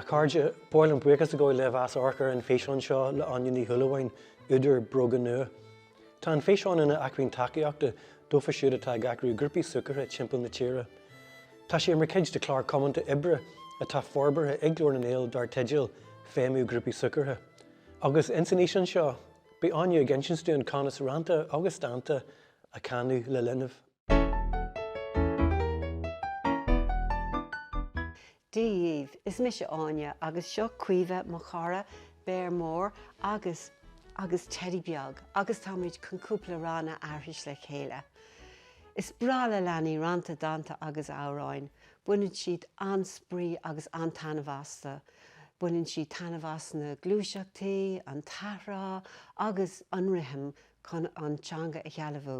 A chairde, ba mhaith liom buíochas a ghabháil libh as amharc ar an físeán seo le Áine Ní Shúilleabháin, údar Bróga Nua. Tá an físeán ina acmhainn tacaíochta dófa siúd atá ag eagrú grúpaí súgartha timpeall na tíre. Tá sé mar chuid de chlár comhaontaithe oibre atá forbartha ag Glór na nGael dar teideal Feidhmiú Grúpaí Súgartha. Agus ins an fhíseán seo, beidh Áine ag insint dúinn conas rannta agus dánta a chanadh le linbh. Dia dhíbh! Is mise Áine agus seo Caoimhe mo chara, béar mór agus agus teidí beag agus táimid chun cúpla rann a aithris le chéile. Is breá le leanaí rannta, dánta agus amhráin. Baineann siad an-spraoi agus an-taitneamh astu. Baineann siad taitneamh as na gluaiseachtaí, an t-athrá agus an rithim chun an teanga a shealbhú.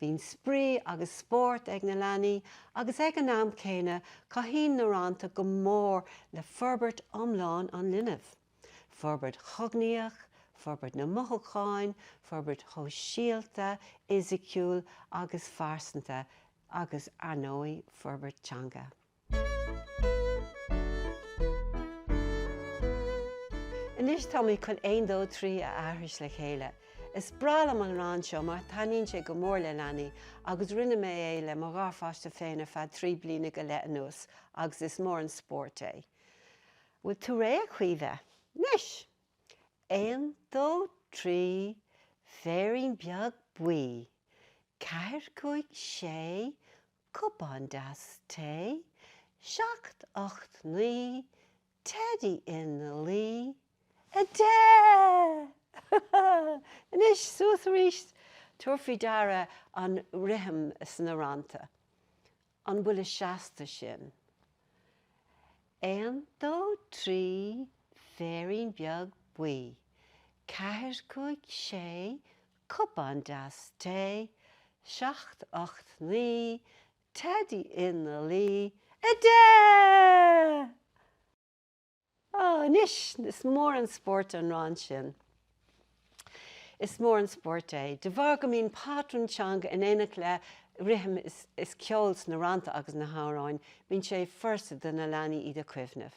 Bíonn spraoi agus spórt ag na leanaí agus ag an am céanna cabhraíonn na rannta go mór le forbairt iomlán an linbh, forbairt chognaíoch, forbairt na mothúcháin, forbairt shóisialta, fhisiciúil agus phearsanta agus, ar ndóigh, forbairt teanga. Anois táimid chun Aon Dó Trí a aithris le chéile. Is breá liom an rann seo mar taitníonn sé go mór le leanaí agus rinne mé é le mo gharpháiste féin ar feadh trí bliana go leith anuas agus is mór an spórt é. Bhfuil tú réidh, a Chaoimhe? Anois! Aon, dó, trí, féirín beag buí. Ceathair, cúig, sé, cupán deas tae, seacht, ocht, naoi, teidí ina luí, a deich! Anois, suas arís! Tabhair faoi deara an rithim sna rannta. An buille seasta sin? Aon, dó, trí, féirín beag buí. Ceathair, cúig, sé, Cupán deas tae, seacht, ocht, naoi, teidí ina luí, a deich! Ó, anois, is mór an spórt an rann sin. Is mór an spórt é, de bharr go mbíonn patrún teanga in éineacht le rithim is ceol sna rannta agus na hamhráin, bíonn sé furasta do na leanaí iad a chuimhneamh.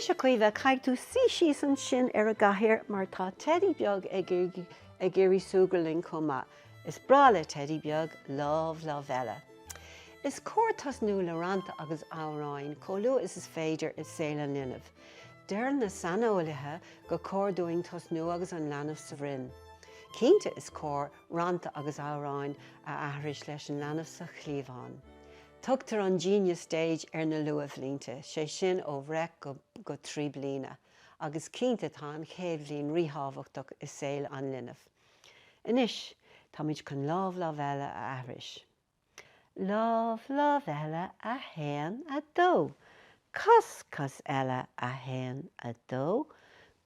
Anois, a Chaoimhe, caithfidh tú suí síos ansin ar an gcathaoir mar tá teidí beag ag iarraidh súgradh linn chomh maith. Is breá le teidí beag lámh, lámh eile. Is cóir tosnú le rannta agus amhráin chomh luath is is féidir i saol an linbh. Deireann na saineolaithe gur cóir dúinn tosnú agus an leanbh sa bhroinn. Cinnte is cóir rannta agus amhráin a aithris leis an leanbh sa chliabhán. Tugtar an 'Genius Stage' ar na luathbhlianta, sé sin ó bhreith go trí bliana, agus cinnte tá an chéad bhliain ríthábhachtach i saol an linbh. Anois, táimid chun Lámh, Lámh Eile a aithris. Lámh, lámh eile, a haon, a dó. Cos, cos eile, a haon, a dó.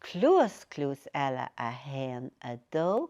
Cluas, cluas eile, a haon, a dó.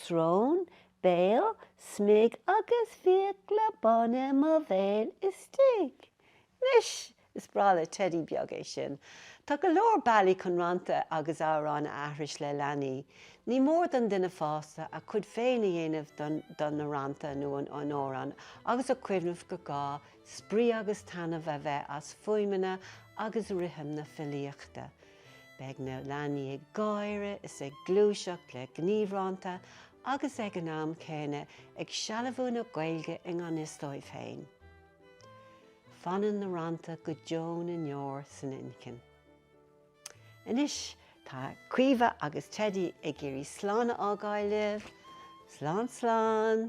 Srón, béal, smig agus fiacla bána i mo bhéal istigh. Anois, is breá le Teidí beag é sin. Tá go leor bealaí chun rannta agus amhráin a aithris le leanaí. Ní mór don duine fásta a chuid féin a dhéanamh de na rannta nó an amhráin agus a cuimhneamh gur gá spraoi agus taitneamh a bheith as fuaimeanna agus rithim na filíochta. Beidh na leanaí ag gáire is ag gluaiseacht le gníomhrannta agus ag an am céanna ag sealbhú na Gaeilge i ngan fhios dóibh féin. Fanann na rannta go deo na ndeor san inchinn. Anois tá Caoimhe agus Teidí ag iarraidh slán a fhágáil libh. Slán slán!